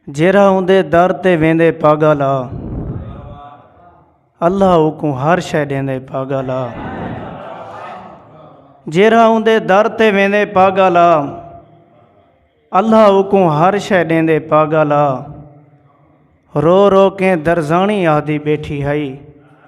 جیرھا اوندے در تے ویندے پاگل آ اللہ اوکوں ہر شے ڈیندے پاگل آ جیرھا اوندے در تے ویندے پاگل آ اللہ اوکوں ہر شے ڈیندے پاگل آ رو رو کے درزانی آہدی بیٹھی ہئی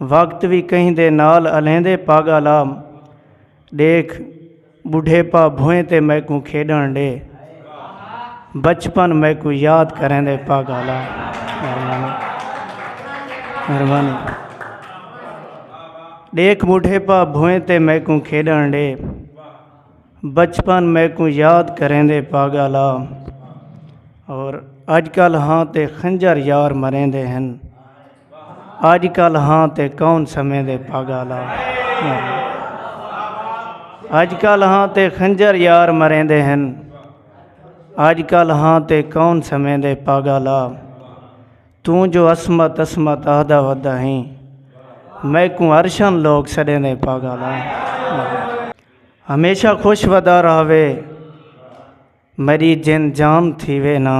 وقت وی کہیں دے نال الیندے پاگا لا ڈیکھ بڈھیپا بھوئیں تے میکوں کھیڈن ڈے بچپن میکوں یاد کریندے پاگا لا مہربانی مہربانی ڈیکھ بڈھیپا بھوئیں تے میکوں کھیڈن ڈے بچپن میکوں یاد کریندے پاگا لا اور اج کل ہاں تے خنجر یار مریندے ہن اج کل ہاں تے کون سمیں دے پاگالا اج کل ہاں تے خنجر یار مریندے ہن اج کل ہاں تے کون سمیں دے پاگالا توں جو عصمت عصمت آہدا ودا ہیں میکوں ارشن لوگ سڑیں دے پاگالا ہمیشہ خوش ودا رہوے میݙی جند جام تھیوے نا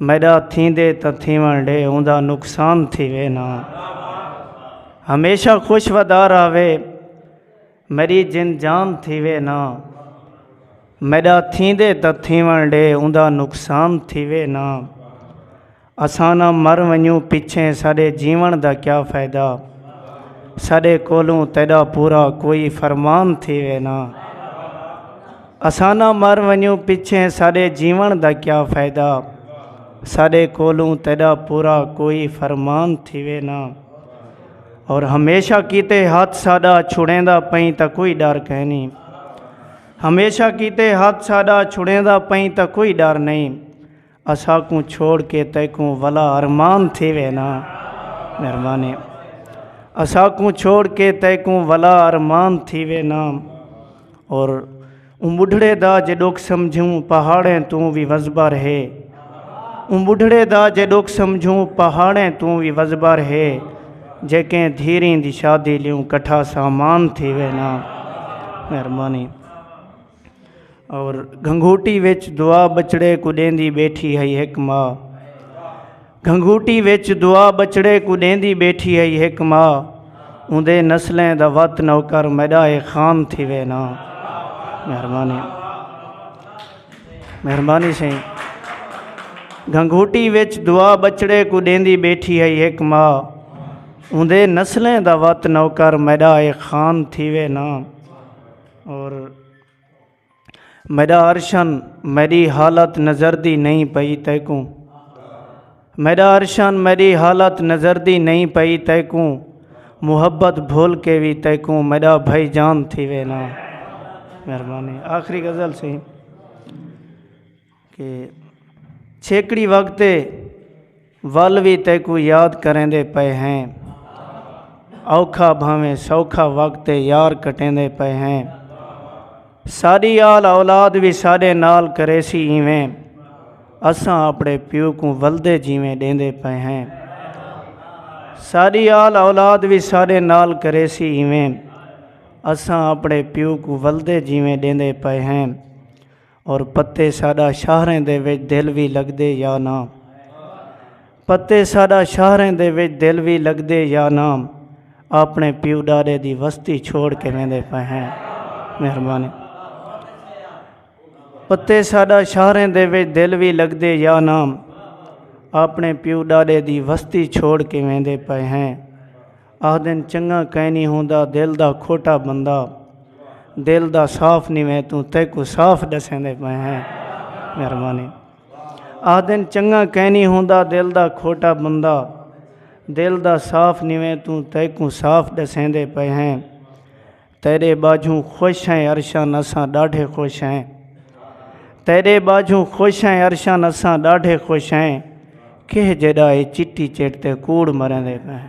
میݙا تھیندے تاں تھیوݨ ݙے اوندا نقصان تھیوے نا ہمیشہ خوش ودا راہوے میݙی جند جام تھیوے نا میݙا تھیندے تاں تھیوݨ ݙے اوندا نقصان تھیوے نا اساں نہ مر ونجوں پچھیں ساڈے جیوݨ دا کیا فائدہ ساڈے کولوں تیڈا پورا کوئی فرمان تھیوے نہ اساں نہ مر ونجوں پچھیں ساڈے جیوݨ دا کیا فائدہ ساڈے کولوں تیڈا پورا کوئی فرمان تھیوے نہ اور ہمیشہ کیتے ہاتھ ساڈا چھڑیں دا پئیں تا کوئی ڈر کہیں نہیں ہمیشہ کیتے ہاتھ ساڈا چھڑیں دا پئیں تا کوئی ڈر نہیں اساکوں چھوڑ کے تیکوں ولا ارمان تھیوے نا مہربانی اساکوں چھوڑ کے تیکوں ولا ارمان تھیوے نا اور اون بڈھڑے دا جے ڈوک سمجھوں پہاڑیں توں بھی وزبا رہے اون بڈھڑے دا جے ڈوک سمجھوں پہاڑیں توں بھی وزبا رہے جے کہیں دھیریں دی شادی لیوں کٹھا سامان تھیوے نا مہربانی اور گھنگھوٹی وچ دعا بچڑے کوں ݙیندی ٻیٹھی ہئی ہک ماء گھنگھوٹی وچ دعا بچڑے کوں ݙیندی ٻیٹھی ہئی ہک ماء اوندے نسلیں دا وت نوکر میݙا اے خان تھیوے نا مہربانی مہربانی سائیں گھنگھوٹی وچ دعا بچڑے کوں ݙیندی ٻیٹھی ہئی ہک ماء اوندے نسلیں دا وت نوکر میݙا اے خان تھیوے نا اور میڈا ارشن میری حالت نظر دی نہیں پئی تیکوں میڈا ارشن میری حالت نظر دی نہیں پئی تیکوں محبت بھول کے بھی تیکوں میڈا بھائی جان تھی وے نا مہربانی آخری غزل سی چھیکڑی وقت ول وی تیکوں یاد کریندے پئے ہیں اوکھا بھاویں سوکھا وقت یار کٹیندے پئے ہیں ساڈی آل اولاد بھی ساڈے نال کرے سی ایویں اساں اپنے پیو کو ولدے جیویں ڈیندے پئے ہیں ساڈی آل اولاد بھی ساڈے نال کرے سی ایویں اساں اپنے پیو کو ولدے جیویں ڈیندے پئے ہیں اور پتے ساڈا شہریں دے وچ دل وی لگدے یا نہ پتے ساڈا شہریں دے وچ دل وی لگدے یا نہ اپنے پیو ڈاڈے دی وستی چھوڑ کے ویندے پے ہیں مہربانی پتے ساڈا شہریں دے وچ دل وی لگدے یا نہ اپنے پیو ڈاڈے دی وستی چھوڑ کے ویندے پے ہیں آہدن چنگا کائنی ہوندا دل دا کھوٹا بندہ دل دا صاف نہیں ویں توں تیکو صاف ڈسیں دے پے ہیں مہربانی آہدن چنگا کائنی ہوندا دل دا کھوٹا بندہ دل دا صاف نہیں ویں توں تیکو صاف ڈسیں دے پے ہیں تیرے باجھوں خوش ہیں عرشاں نساں ڈاڈھے خوش ہیں تیرے باجھوں خوش ہیں عرشاں نساں ڈاڈھے خوش ہیں کہ جڑا اے چٹی چٹ تے کوڑ مریں دے پے ہیں